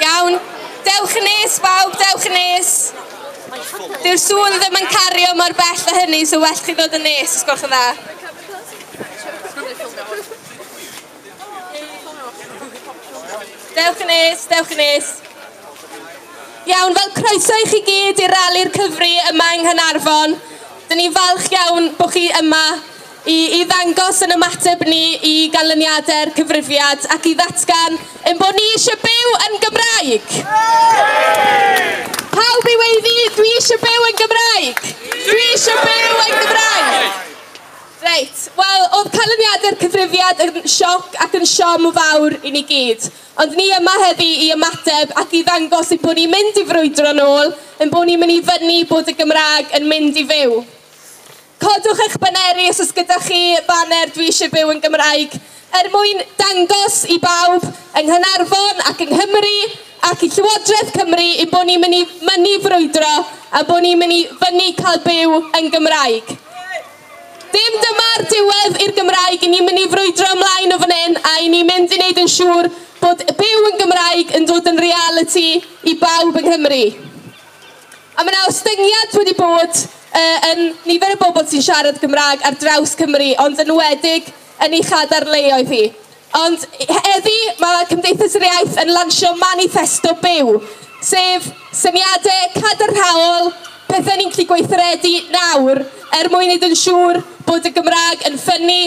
Iawn, dewch yn nes bawb, dewch yn nes. Dyw'r sŵn ddim yn cario mor bell a hynny, so well chi ddod yn nes, os gwelwch yn dda. Dewch yn nes, dewch yn nes. Iawn, fel croeso i chi gyd i'r rali'r cyfri yma yng Nghanarfon. Dyn ni'n falch iawn bod chi yma i, i ddangos yn ymateb ni i ganlyniadau'r cyfrifiad ac i ddatgan yn bod ni eisiau byw yn Gymraeg. Pawb i weiddi, dwi eisiau byw yn Gymraeg! Dwi eisiau byw yn Gymraeg! Reit, wel, oedd canlyniadau'r cyfrifiad yn sioc ac yn siom fawr i ni gyd. Ond ni yma heddi i ymateb ac i ddangos ein bod ni'n mynd i frwydro'n ôl, ein bod ni'n mynd i fynnu bod y Gymraeg yn mynd i fyw. Codwch eich baneri os oes gyda chi baner Dwi eisiau byw yn Gymraeg, er mwyn dangos i bawb yng Nghaernarfon ac yng Nghymru ac i Llywodraeth Cymru ein bod ni'n mynd i mynnu frwydro, ein bod ni'n mynd i fynnu cael byw yn Gymraeg. Dim dyma'r diwedd i'r Gymraeg, 'yn ni'n mynd i frwydro ymlaen o fan hyn a 'yn ni'n mynd i wneud yn siŵr bod byw yn Gymraeg yn dod yn realiti i bawb yng Nghymru. A mae yna ostyngiad wedi bod uh, yn nifer y bobl sy'n siarad Gymraeg ar draws Cymru, ond yn enwedig yn ei chadarnleoedd hi. Ond heddi mae Cymdeithas yr Iaith yn lansio maniffesto byw, sef syniadau cadarnhaol, pethau ni'n gallu gweithredu nawr er mwyn wneud yn siŵr bod y Gymraeg yn ffynnu,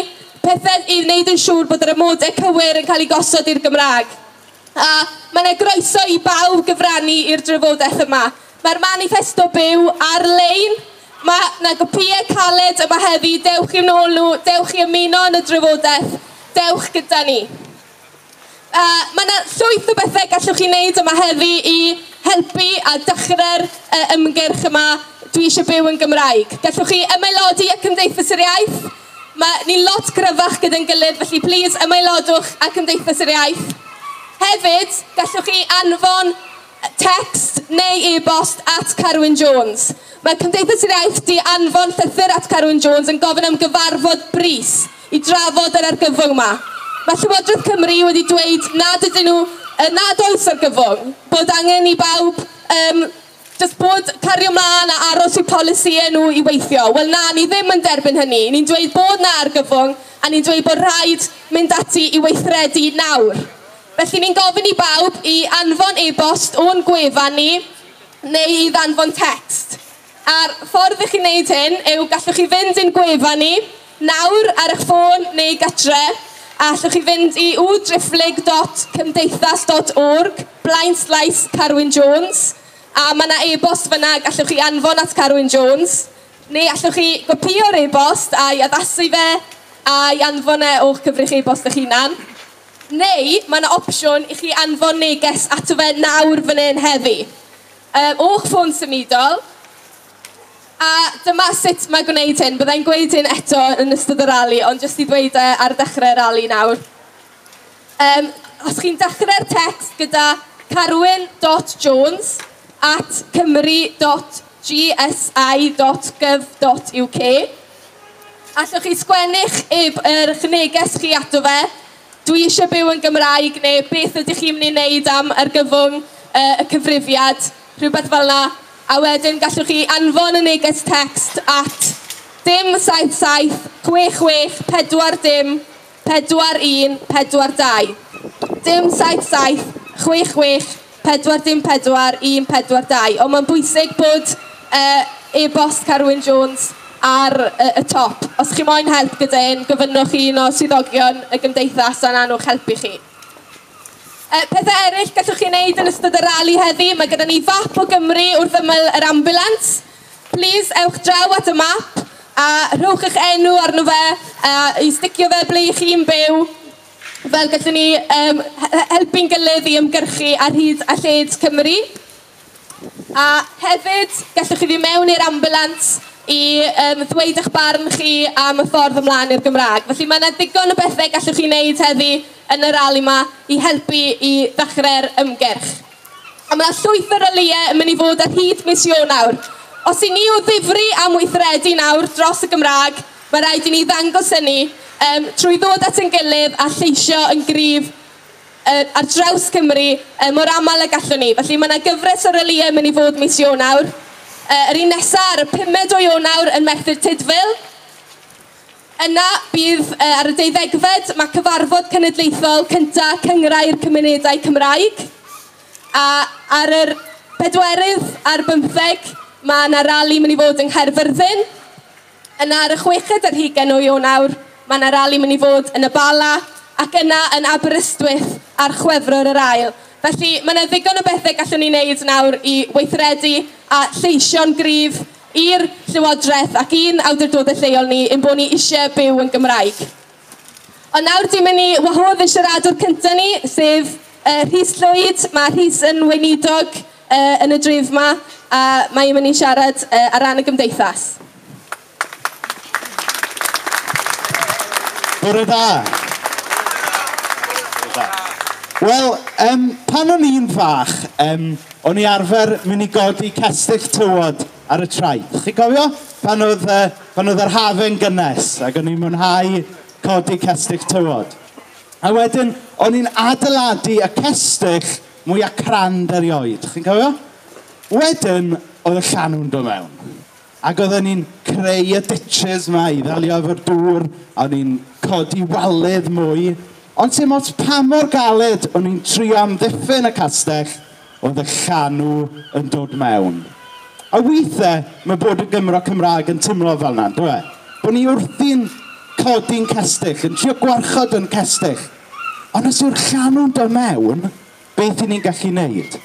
pethau i wneud yn siŵr bod yr amodau cywir yn cael eu gosod i'r Gymraeg. A mae 'na groeso i bawb gyfrannu i'r drafodaeth yma. Mae'r maniffesto byw ar-lein. Mae 'na gopïau caled yma heddi, dewch i'n ôl nhw, dewch i ymuno yn y drafodaeth, dewch gyda ni. A mae 'na llwyth o bethau gallwch chi wneud yma heddi i helpu a dechrau'r uh, ymgyrch yma, dwi eisiau byw yn Gymraeg. Gallwch chi ymaelodi â Cymdeithas yr Iaith, mae ni'n lot gryfach gyda'n gilydd, felly plîs ymaelodwch â Cymdeithas yr Iaith. Hefyd, gallwch chi anfon Tecst neu e-bost at Carwyn Jones. Mae Cymdeithas yr Iaith di anfon llythyr at Carwyn Jones yn gofyn am gyfarfod brys i drafod yr argyfwng ma. Mae Llywodraeth Cymru wedi dweud nad ydyn nhw, yy nad oes argyfwng, bod angen i bawb yym jyst bod cario mlaen a aros i polisïau nhw i weithio. Wel na, ni ddim yn derbyn hynny. Ni'n dweud bod na argyfwng a ni'n dweud bod rhaid mynd ati i weithredu nawr. Felly ni'n gofyn i bawb i anfon e-bost o'n gwefan ni neu i ddanfon tecst. A'r ffordd i chi wneud hyn yw gallwch chi fynd i'n gwefan ni nawr ar eich ffôn neu gytre a allwch chi fynd i www.cymdeithas.org blaenslaes Carwyn Jones a mae 'na e-bost fan'na gallwch chi anfon at Carwyn Jones neu allwch chi gopïo'r e-bost a'i addasu fe a'i anfon e o'ch cyfrif e-bost eich hunan. Neu mae 'na opsiwn i chi anfon neges ato fe nawr fan hyn heddi. Yy, o'ch ffôn symudol. A dyma sut mae gwneud hyn. Bydda i'n gweud hyn eto yn ystod y rali, ond jyst i ddweud e ar ddechrau'r rali nawr. Yym, os chi'n dechrau'r tecst gyda Carwyn dot Jones at cymru dot gsi dot gyf dot UK, Allwch chi sgwennu'ch eb yr'ch neges chi ato fe, Dwi eisiau byw yn Gymraeg neu Beth ydych chi'n mynd i wneud am argyfwng y y cyfrifiad? rhywbeth fel 'na, a wedyn gallwch chi anfon y neges tecst at dim saith saith chwech chwech pedwar dim Pedwar un, pedwar dau. Dim saith saith, chwech chwech, pedwar dim pedwar, un pedwar dau. Ond mae'n bwysig bod yy e-bost Carwyn Jones ar yy y top. Os chi moyn help gyda hyn, gofynnwch i un o swyddogion y Gymdeithas a nawn nhw helpu chi. Yy pethe eryll gallwch chi wneud yn ystod y rali heddi, mae gyda ni fap o Gymru wrth ymyl yr ambiwlans. Plîs ewch draw at y map a rhowch eich enw arno fe a i sticio fe ble i chi'n byw fel gallwn ni um, helpu'n gilydd i ymgyrchu ar hyd a lled Cymru. A hefyd, gallwch chi fynd mewn i'r ambulance i um, ddweud eich barn chi am y ffordd ymlaen i'r Gymraeg. Felly mae yna ddigon o bethau gallwch chi wneud heddi yn y rali yma i helpu i ddechrau'r ymgyrch. A mae llwyth o ralïau yn mynd i fod ar hyd mis Ionawr. Os i ni o ddifri am weithredu nawr dros y Gymraeg, mae rhaid i ni ddangos hynny um, trwy ddod at ein gilydd a lleisio yn gryf uh, ar draws Cymru uh, mor aml a gallwn ni. Felly mae yna gyfres o ralïau yn mynd i fod mis Ionawr. Uh, yr un nesaf ar y pumed o Ionawr yn Merthyr Tudful, Yna, bydd ar y deuddegfed, mae cyfarfod cenedlaethol cynta Cyngrau'r Cymunedau Cymraeg, a ar yr pedwerydd a'r bymtheg, mae yna rali mynd i fod yng Nghaerfyrddin. Yna ar y chweched ar hugen o Ionawr, mae yna rali mynd i fod yn y Bala, ac yna yn Aberystwyth ar Chwefror yr ail. Felly, mae yna ddigon o bethau gallwn ni wneud nawr i weithredu a lleisio'n gryf i'r Llywodraeth ac i'n awdurdodau lleol ni ein bod ni eisiau byw yn Gymraeg. Ond nawr dwi'n mynd i wahodd y siaradwr cyntaf ni, sef uh, Rhys Llwyd. Mae Rhys yn weinidog uh, yn y dref yma a mae'n mynd i siarad uh, ar ran y gymdeithas. Bore da. Wel, um, pan o'n i'n fach, um, O'n i arfer mynd i godi cestyll tywod ar y traeth. Chi'n cofio? Pan oedd, uh, pan oedd yr hafe'n gynnes, ac o'n i'n mwynhau codi cestyll tywod. A wedyn, o'n i'n adeiladu y cestyll mwyaf crand erioed. Chi'n cofio? Wedyn, oedd y llanw'n dod mewn. Ac oedden ni'n creu y ditches 'ma i ddelio efo'r dŵr, a o'n ni'n codi waledd mwy, ond sim ots pa mor galed o'n ni'n trio amddiffyn y castell, oedd y llanw yn dod mewn. A withe ma' bod yn Gymro Cymraeg yn timlo fel 'na, yndyw e? Bo' ni wrthi'n codi'n cestyll, yn trio gwarchod yn cestyll, ond os yw'r llanw'n do' mewn, beth i ni'n gallu wneud.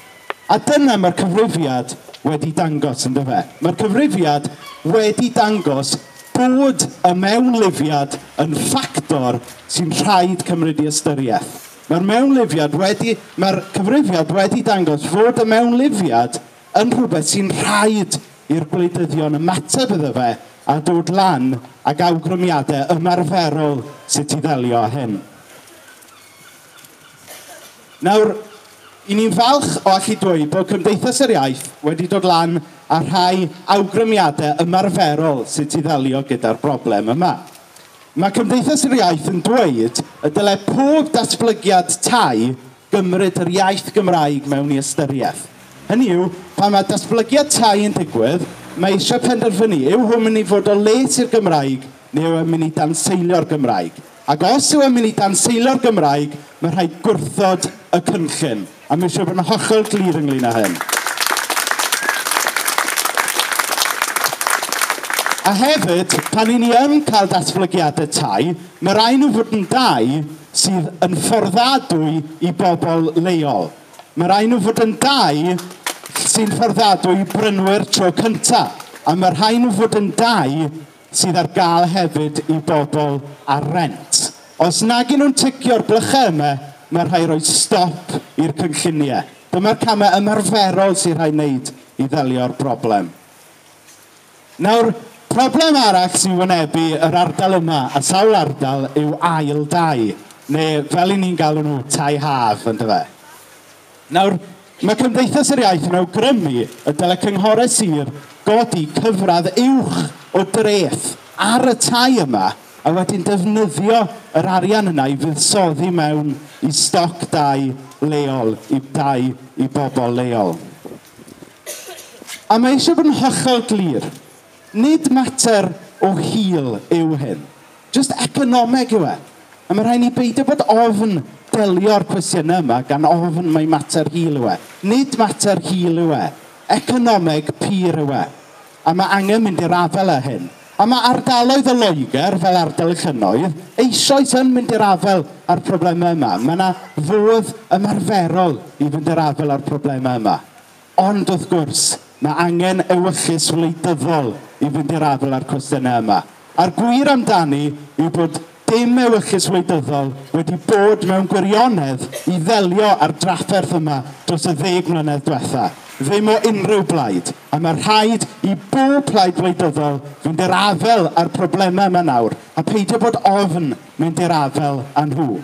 A dyna mae'r cyfrifiad wedi dangos, yn dyfe? Mae'r cyfrifiad wedi dangos bod y mewnlifiad yn ffactor sy'n rhaid cymryd i ystyriaeth. Mae'r mewnlifiad wedi, mae'r cyfrifiad wedi dangos fod y mewnlifiad yn rhywbeth sy'n rhaid i'r gwleidyddion ymateb iddo fe a dod lan ag awgrymiadau ymarferol sut i ddelio â hyn. Nawr, i ni'n falch o allu dweud bod Cymdeithas yr Iaith wedi dod lan â rhai awgrymiadau ymarferol sut i ddelio gyda'r broblem yma. Mae Cymdeithas yr Iaith yn dweud y dylai pob datblygiad tai gymryd yr iaith Gymraeg mewn i ystyriaeth. Hynny yw, pan mae datblygiad tai yn digwydd, mae eisiau penderfynu yw hwn mynd i fod o les i'r Gymraeg neu yw e'n mynd i danseilio'r Gymraeg. Ac os yw e'n mynd i danseilo'r Gymraeg, mae rhaid gwrthod y cynllun, a mae eisiau bod yn hollol glir ynglŷn â hyn. A hefyd, pan i ni yn cael datblygiadau tai, mae rhaid nhw fod yn dai sydd yn fforddadwy i bobl leol. Mae rhaid nhw fod yn dai sy'n fforddadwy i brynwyr tro cyntaf, a mae rhaid nhw fod yn dai sydd ar gael hefyd i bobl ar rent. Os nag y'n nhw'n ticio'r blychau yma, mae rhai roi stop i'r cynlluniau. Dyma'r camau ymarferol sy'n rhai wneud i ddelio'r broblem. Nawr, problem arall sy'n wynebu yr ardal yma a sawl ardal yw ail dai, neu fel i ni'n galw nhw, tai haf, yndyfe? Nawr, mae Cymdeithas yr Iaith yn awgrymu y dylai cynghorau sir godi cyfradd uwch o dreth ar y tai yma a wedyn defnyddio yr arian yna i fuddsoddi mewn i stoc dai leol, i dai i bobl leol. A mae eisiau bod yn hollol glir, nid mater o hil yw hyn. Jyst economeg yw e. A mae rhaid ni beidio bod ofn delio'r cwestiynau yma gan ofn mai mater hil yw e. Nid mater hil yw e. Economeg pur yw e. A mae angen mynd i'r afael â hyn. A mae ardaloedd o Loegr, fel ardal y llynnoedd, eisoes yn mynd i'r afael â'r problemau yma. Mae yna fodd ymarferol i fynd i'r afael â'r problemau yma. Ond wrth gwrs, mae angen ewyllys wleidyddol i fynd i'r afael â'r cwestiynau yma. A'r gwir amdani yw bod dim ewyllys wleidyddol wedi bod mewn gwirionedd i ddelio â'r drafferth yma dros y ddeg mlynedd dwetha', ddim o unrhyw blaid, a mae rhaid i bob plaid wleidyddol fynd i'r afael â'r problemau yma nawr a peidio bod ofn mynd i'r afael â nhw.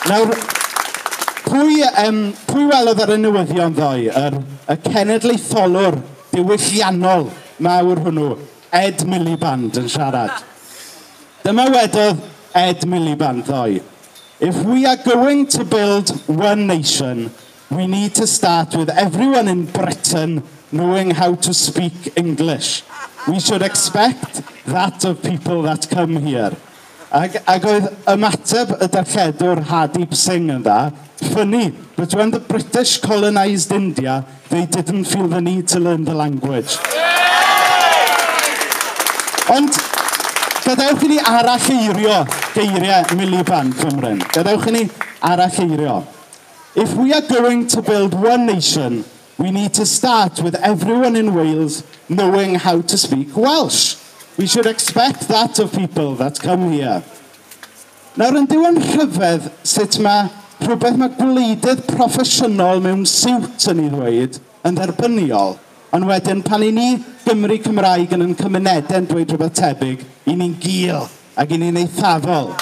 Nawr, pwy, um, pwy welodd ar y newyddion ddoe, yr, y cenedlaetholwr diwylliannol mawr hwnnw, Ed Miliband, yn siarad? Dyma wedodd Ed Miliband ddoe, If we are going to build one nation, We need to start with everyone in Britain knowing how to speak English. We should expect that of people that come here. Ac, ac oedd ymateb y darlledwr Hardeep Singh yn dda, funny, but when the British colonised India, they didn't feel the need to learn the language. Ond gadewch i ni aralleirio geiriau Miliband, Cymryn. Gadewch i ni aralleirio. If we are going to build one nation, we need to start with everyone in Wales knowing how to speak Welsh. We should expect that of people that come here. Nawr yn diwan rhyfedd sut mae rhywbeth mae gwleidydd proffesiynol mewn siwt yn ei ddweud yn dderbyniol, ond wedyn pan i ni Gymry Cymraeg yn yn cymunedau'n dweud rhywbeth tebyg, i ni'n gul. Ac i ni'n eithafol.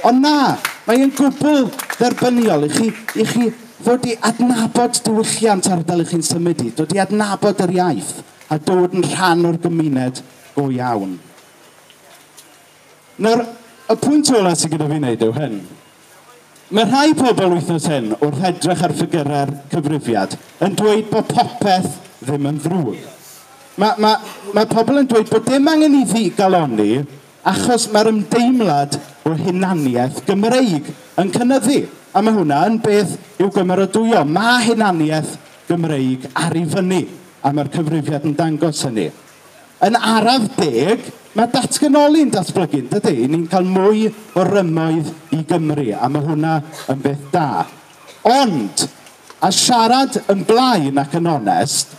Ond na, mae e'n gwbl dderbyniol i chi, i chi ddod i adnabod diwylliant ardal i chi'n symud i, dod i adnabod yr iaith a dod yn rhan o'r gymuned go iawn. Nawr, y pwynt ola sy gyda fi wneud yw hyn. Mae rhai pobl wythnos hyn, wrth edrych ar ffigyrau'r cyfrifiad, yn dweud bod popeth ddim yn ddrwg. Mae, mae, mae pobl yn dweud bod dim angen i fi galonni achos mae'r ymdeimlad o hunaniaeth Gymreig yn cynyddu. A mae hwnna yn beth i'w gymeradwyo. Mae hunaniaeth Gymreig ar ei fyny, a mae'r cyfrifiad yn dangos hynny. Yn araf deg, mae datganoli'n datblygu, yn dydy? Ni'n cael mwy o rymoedd i Gymru, a mae hwnna yn beth da. Ond, a siarad yn blaen ac yn onest,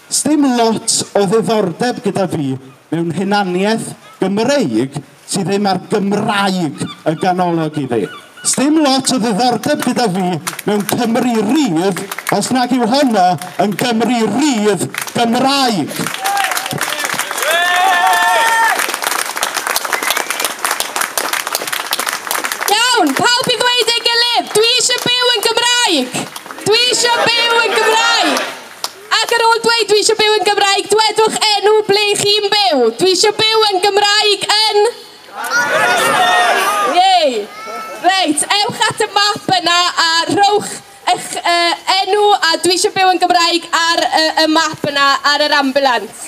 sdim lot o ddiddordeb gyda fi mewn hunaniaeth Gymreig Ti ddim ar Gymraeg yn ganolog i fi. Sdim lot o ddiddordeb gyda fi mewn Cymru rydd os nag yw honno yn Gymru rydd Gymraeg. Iawn, pawb i ddweud ei gilydd, dwi eisiau byw yn Gymraeg! Dwi eisiau byw yn Gymraeg! Ac ar ôl dweud 'dwi eisiau byw yn Gymraeg', dwedwch enw ble chi'n byw. Dwi eisiau byw yn Gymraeg yn... Caernarfon! Yay! Reit, ewch at y map yna a rhowch eich uh, enw a 'dwi eisiau byw yn Gymraeg' ar uh, y map yna ar yr ambiwlans.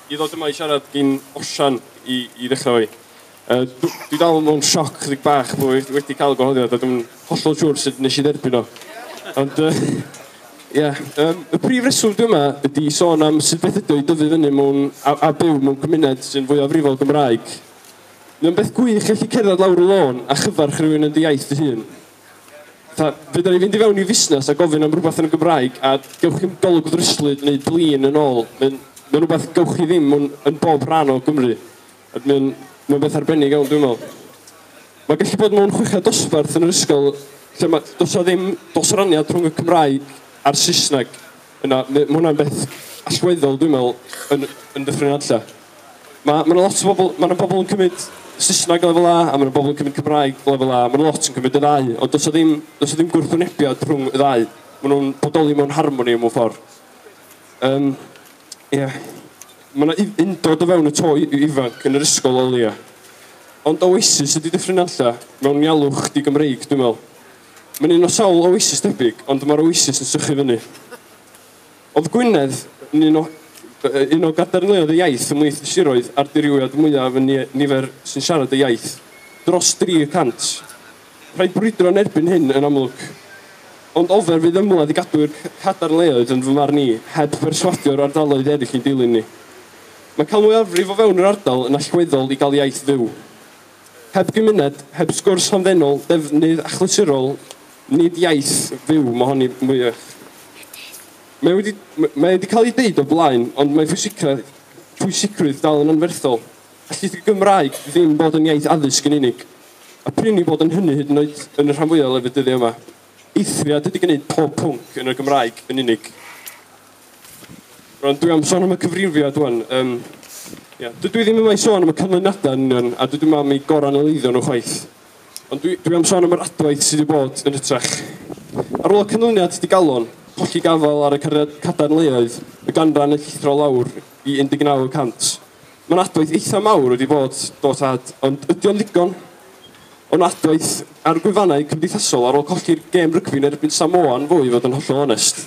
i ddod yma i siarad gin Osian i, i ddechrau fo i. Uh, dwi, dwi dal mewn sioc ddig bach bod wedi, wedi cael y gwahoddiad a dwi'n hollol siŵr sut nes i dderbyn o. Ond, ie, uh, yeah, um, y prif reswm dwi yma ydy sôn am sut beth ydy i dyfu fyny mewn a, a byw mewn gymuned sy'n fwy afrifol Gymraeg. Mae'n beth gwych gallu cerdded lawr y lôn a chyfarch rhywun yn dy iaith dy hun. Fatha, fedra i fynd i fewn i fusnes a gofyn am rhywbeth yn y Gymraeg a gewch chi'm golwg ddryslyd neu blin yn ôl. Mae'n mae'n rhywbeth gewch chi ddim yn, yn bob rhan o Gymru. A mae'n mae'n beth arbennig iawn dwi'n meddwl. Mae gallu bod mewn chweched dosbarth yn yr ysgol lle mae, does na ddim dosraniad rhwng y Cymraeg a'r Saesneg. Yna, mae hwnna'n beth allweddol, dwi'n meddwl, yn, yn Dyffryn Nantlle. Mae, mae yna lot o bobl, mae yna bobl yn cymryd Saesneg lefel A, a mae yna bobl yn cymryd Cymraeg lefel A, mae yna lot yn cymryd y ddau, ond does ddim, does ddim gwrthwynebiad rhwng y ddau. Mae nhw'n bodoli mewn harmoni mewn ffordd. Um, yeah. Mae yna undod o fewn y to ifanc yn yr ysgol o leia. Ond oasis ydy Dyffryn Nantlle mewn ialwch di Gymreig, dwi'n meddwl. Mae'n un o sawl oasis debyg, ond mae'r oasis yn sychu fyny. Oedd Gwynedd yn un o, un o gadarnleoedd y iaith ymhlith y siroedd a'r dirywiad mwyaf yn nifer sy'n siarad y iaith, dros 300. Rhaid brwydro yn erbyn hyn, yn amlwg. Ond ofer fydd ymladd i gadw i'r cadarnleoedd, yn fy marn i, heb berswadio'r ardaloedd eraill i'n dilyn ni. Mae cael mwyafrif o fewn yr ardal yn allweddol i gael iaith fyw. Heb gymuned, heb sgwrs hamddenol, defnydd achlysurol, nid iaith fyw mohon ni mwyach. Mae wedi, mae wedi cael ei ddeud o blaen, ond mae pwysicrwydd, pwysicrwydd dal yn anferthol. Allith y Gymraeg ddim bod yn iaith addysg yn unig. A prin i bod yn hynny hyd yn oed yn y rhan fwyaf o lefydd dyddiau yma. Eithriad ydy gwneud pob pwnc yn y Gymraeg yn unig. Rwan, dwi am sôn am y cyfrifiad rwan. Um, yeah. Dydw i ddim yma i sôn am y canlyniadau yn union, a dydw i mam i goranaleiddio nhw chwaith. Ond dwi, dwi am sôn am yr adwaith sydd wedi bod yn hytrach. Ar ôl y canlyniad digalon, colli gafael ar y cadarnleoedd, y ganran yn llithro lawr i 19 y cant. Mae'n adwaith eitha mawr wedi bod, do tad, ond ydy o'n ddigon? Ond adwaith ar gwefannau cymdeithasol ar ôl colli'r gêm rygbi'n erbyn Samoa yn fwy fod yn hollol onest.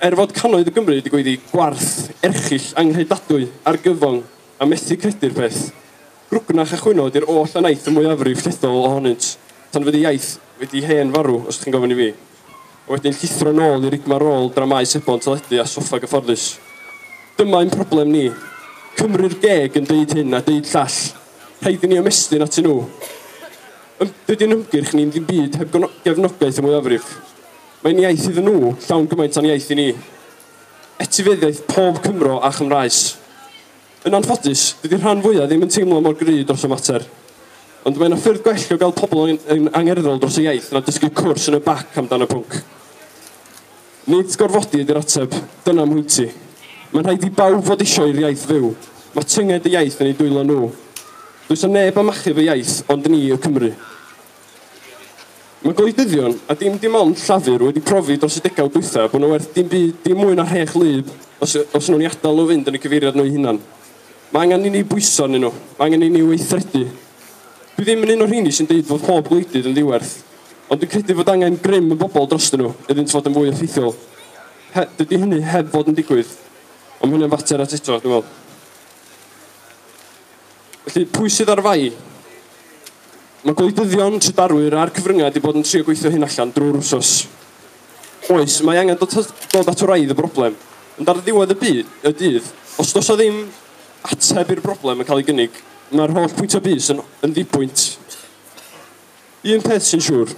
Er fod cannoedd o Gymry wedi gweiddi gwarth erchyll anghredadwy, argyfwng a methu credu'r peth, grwgnach a chwyno ydy'r oll a wnaeth y mwyafrif llethol ohonynt, tan fydd y iaith wedi hen farw, os chi'n gofyn i fi, a wedyn llithro nôl i rigmarôl dramâu sebon teledu a soffa gyfforddus. Dyma ein problem ni. Cymru'r geg yn deud hyn a deud llall. Rhaid i ni ymestyn atyn nhw. Ym, dydy'n hymgyrch ni'n ddim byd heb gefnogaeth y mwyafrif. Mae'n iaith iddyn nhw, llawn gymaint a'n iaith i ni. Etifeddiaeth pob Cymro a Chymraes. Yn anffodus, dydy rhan fwya' ddim yn teimlo mor gry' dros y mater. Ond mae 'na ffyrdd gwell o gael pobl yn yn angerddol dros y iaith na dysgu cwrs yn y bac am dan y pwnc. Nid gorfodi ydy'r ateb, dyna mhwynti. Mae'n rhaid i bawb fod isio i'r iaith fyw. Mae tynged y iaith yn eu dwylo nhw. Does 'na neb am achub y iaith ond ni y Cymry. Mae gwleidyddion, a dim dim ond Llafur, wedi profi dros y degawd dwytha bod nhw werth dim byd, dim mwy na rhech wlyb, os os nhw'n ei adael nhw fynd yn y cyfeiriad nhw'u hunan. Mae angen i ni bwyso arnyn nhw, mae angen i ni weithredu. Dwi ddim yn un o'r rheini sy'n deud fod pob gwleidydd yn ddiwerth, ond dwi'n credu fod angen grym y bobl drostyn nhw iddynt fod yn fwy effeithiol. He, dydy hynny heb fod yn digwydd, ond mae hynny'n fater at eto, dwi'n meddwl. Felly, pwy sydd ar fai? Mae gwleidyddion, trydarwyr a'r cyfryngau wedi bod yn trio gweithio hyn allan drwy'r wsos. Oes, mae angen dod, dod at wraidd y broblem, ond ar ddiwedd y, byd, y dydd, os does o ddim ateb i'r broblem yn cael ei gynnig, mae'r holl pwyntio bys yn, yn ddibwynt. Un peth sy'n siŵr,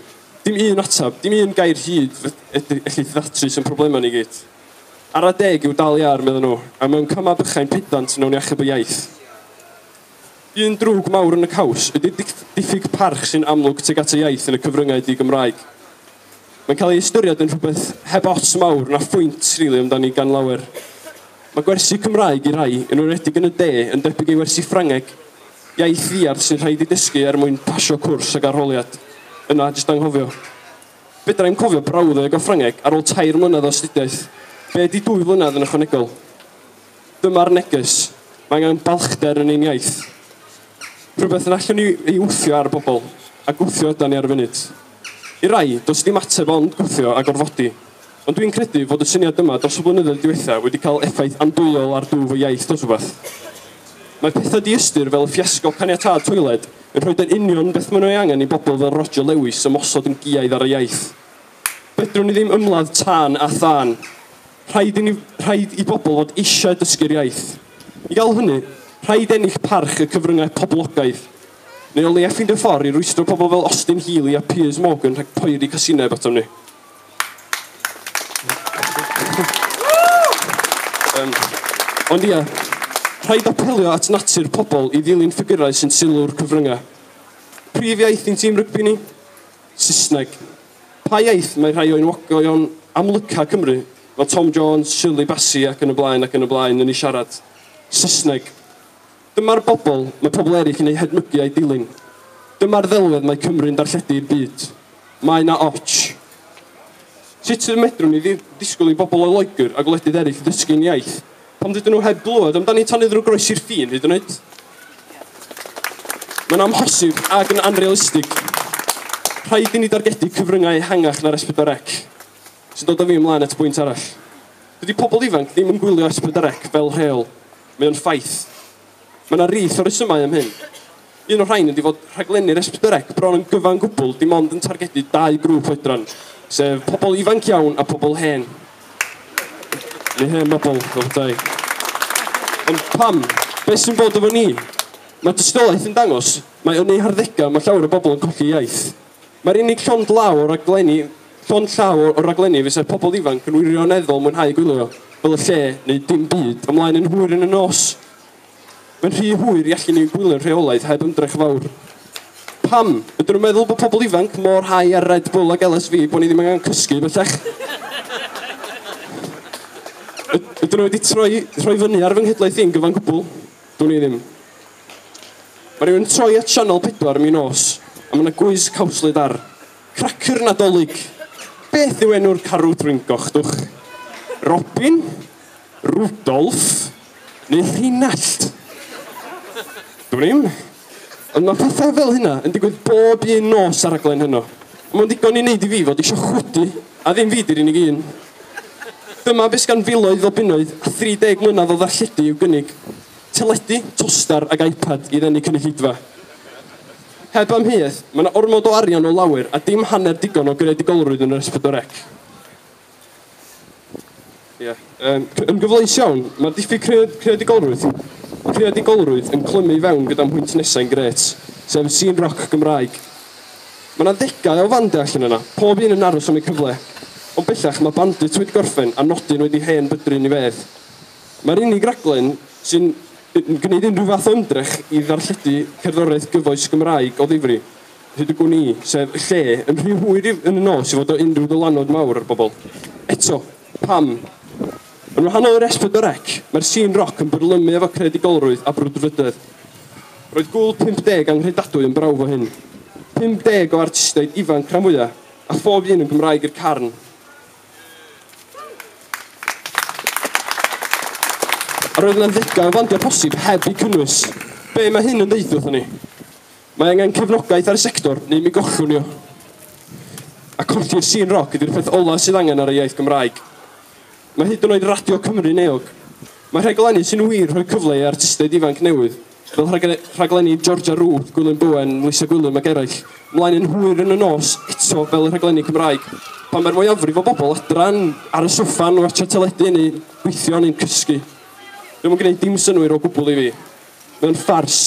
dim un ateb, dim un gair hyd fedri elli ddatrys ein problemau ni gyd. Ar adeg yw dal i ar, medden nhw, a mewn camau bychain pedant wnawn ni achub y iaith. Un drwg mawr yn y caws ydy'r diffyg parch sy'n amlwg tuag at y iaith yn y cyfryngau di-Gymraeg. Mae'n cael ei ystyried yn rhywbeth heb ots mawr na phwynt, rili, amdani gan lawer. Mae gwersi Cymraeg i rai, yn enwedig yn y de, yn debyg i wersi Ffrangeg, iaith ddiarth sy'n rhaid ei dysgu er mwyn pasio cwrs ac arholiad. Yna, jyst anghofio. Fedrai'm cofio brawddeg o Ffrangeg ar ôl tair mlynedd o astudiaeth. Be ydi dwy flynedd yn ychwanegol? Dyma'r neges. Mae angen balchder yn ein iaith. Rhywbeth yn allwn ni ei wthio ar bobl, a gwthio ydan ni ar y funud. I rai, does dim ateb ond gwthio a gorfodi. Ond dwi'n credu fod y syniad yma dros y blynyddoedd diwetha' wedi cael effaith andwyol ar dwf y iaith dros rywbeth. Mae pethau diystyr fel y ffiasco caniatâd toiled yn rhoi yr union beth maen nhw ei angen i bobl fel Roger Lewis ymosod yn giaidd ar y iaith. Fedrwn ni ddim ymladd tân a thân. Rhaid i ni, rhaid i bobl fod eisiau dysgu'r iaith. I gael hynny, rhaid ennill parch y cyfryngau poblogaidd. Neu o leia ffindio ffordd i rwystro pobl fel Austin Healey a Piers Morgan rhag poeri casineb atom ni. um, ond ia, rhaid apelio at natur pobl i ddilyn ffigurau sy'n sylw'r cyfryngau. Prif iaith i'n tîm rygbi ni? Saesneg. Pa iaith mae rhai o enwogion amlyca Cymru, fel Tom Jones, Shirley Bassey ac yn y blaen ac yn y blaen yn ei siarad? Saesneg. Dyma'r bobl mae pobl eraill yn eu hedmygu a'u dilyn. Dyma'r ddelwedd mae Cymru'n darlledu i'r byd. Mae 'na ots. Sut y medrwn ni ddisgwyl i bobl o Loegr a gwledydd eraill ddysgu ein iaith pan rydyn nhw heb glywed amdani tan iddyn nhw groesi'r ffin hyd yn oed? Mae'n amhosib ac yn anrealistig. Rhaid i ni dargedu cyfryngau ehangach na'r S4C. sy'n dod â fi ymlaen at bwynt arall. Dydy pobl ifanc ddim yn gwylio Esblyderec fel rheol. Mae o'n ffaith. Mae yna rith o resymau am hyn. Un o'r rhain ydy fod rhaglenni'r Esblyderec bron yn gyfan gwbl dim ond yn targedu dau grŵp oedran, sef pobl ifanc iawn a pobl hen, neu hen bobl, fel petai. Ond pam? Beth sy'n bod efo ni? Mae dystiolaeth yn dangos, mae yn eu harddegau mae llawer o bobl yn colli iaith. Mae'r unig llond law o raglenni, llond llaw o raglenni fysa pobl ifanc yn wirioneddol mwynhau gwylio, fel y lle neu dim byd, ymlaen yn hwyr yn y nos. Mae'n rhy hwyr i allu ni gwylio'n rheolaidd heb ymdrech fawr. Pam? Ydyn nhw'n meddwl bod pobl ifanc mor high ar Red Bull ac LSV bod ni ddim angen cysgu bellach? Ydyn nhw wedi troi, rhoi fyny ar fy nghydlaeth i'n gyfan gwbl? Dwn i ddim. Mae rhywun yn troi at Sianel 4 ym mi nos, a mae 'na gwis cawslyd ar. Cracyr Nadolig! Beth yw enw'r carw drwyn gochdwch? Robin? Rudolf? Neu Rheinallt? Dwn i'm. Ond mae pethau fel hynna yn digwydd bob un nos ar raglen Heno. Mae'n ddigon i wneud i fi fod eisiau chwydu, a ddim fi di'r unig un. Dyma beth sgan filoedd o bunnoedd a 30 mlynedd o ddarlledu i'w gynnig. Teledu, tostar ac iPad i ddenu cynulleidfa. Heb amheuaeth, mae yna ormod o arian o lawer a dim hanner digon o greadigolrwydd yn yr Esbydwrec. Ie. Um, yn gyfleus iawn, mae'r diffyg cread creadigolrwydd, creadigolrwydd yn clymu i fewn gyda'n hwynt nesau'n gret, sef y scene rock Gymraeg. Mae yna ddegau o fande allan yna, pob un yn aros am eu cyfle. Ond bellach mae Bandit wedi gorffen a nodyn wedi hen bydru'n i fedd. Mae'r unig raglen sy'n yn gwneud unrhyw fath o ymdrech i ddarlledu cerddoriaeth gyfoes Gymraeg o ddifri. Hyd y gwn i, sef y lle, yn rhy hwyr yn y nos i fod o unrhyw ddylanwad mawr ar bobl. Eto, pam? Yn wahanol i'r Esbyd o Rec, mae'r sîn roc yn byrlymu efo creadigolrwydd a brwdfrydedd. Roedd Gŵyl 50 anghredadwy yn brawf o hyn. 50 o artistiaid ifanc rhan fwya', a phob un yn Gymraeg i'r carn. A roedd yna ddegau o fandiau posib heb eu cynnwys. Be mae hyn yn ddeud wrthon ni? Mae angen cefnogaeth ar y sector neu mi gollwn ni o. A colli'r sîn roc ydy'r peth ola' sydd angen ar y iaith Gymraeg. Mae hyd yn oed Radio Cymru'n eog. Mae rhaglenni sy'n wir rhoi cyfle i artistiaid ifanc newydd, fel rhaglen- rhaglenni Georgia Ruth, Gwilym Bowen, Lisa Gwilym ac eraill, mlaen yn hwyr yn y nos, eto fel y rhaglenni Cymraeg. Pan mae'r mwyafrif o bobl adra yn ar y soffa yn watsio teledu neu'n gweithio neu'n cysgu. Dio'm yn gwneud dim synnwyr o gwbl i fi. Mae o'n ffars.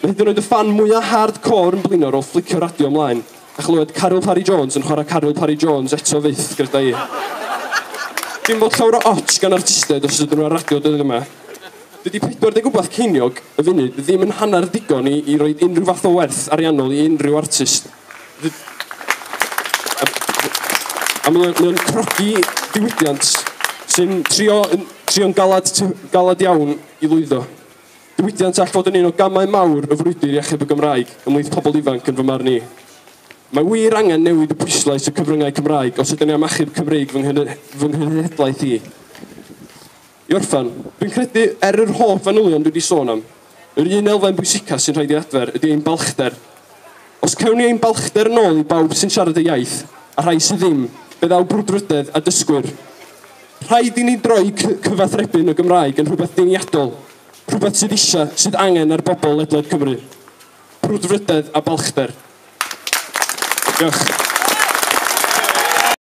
Hyd yn oed y ffan mwya hard core yn blino ar ôl fflicio radio mlaen a chlywed Caryl Parry Jones yn chwarae Caryl Parry Jones eto fyth gyda i. Dim bod llawer o otsh gan artisted os ydyn nhw ar radio dyddiau yma. Dydy 40 wbath ceiniog y funud ddim yn hanner ddigon i, i roi unrhyw fath o werth ariannol i unrhyw artist. A mae o'n crogi diwydiant sy'n trio, trio galad, galad iawn i lwyddo. Diwydiant all fod yn un o gamau mawr y frwydr i achub y Gymraeg ymhlith pobl ifanc yn fy marn i. Mae wir angen newid y pwyslais y cyfryngau Cymraeg os ydyn ni am achub Cymreig fy nghenhedlaeth i. I orffen, dwi'n credu, er yr holl fanylion dwi wedi sôn am, yr un elfen bwysica sy'n rhaid i adfer ydy ein balchder Os cawn ni ein balchder yn ôl i bawb sy'n siarad y iaith, a rhai sydd ddim, fe ddaw brwdfrydedd a dysgwyr. Rhaid i ni droi cyfathrebu'n y Gymraeg yn rhywbeth deniadol, rhywbeth sydd eisiau, sydd angen ar bobl ledled Cymru. Brwdfrydedd a balchder. Diolch.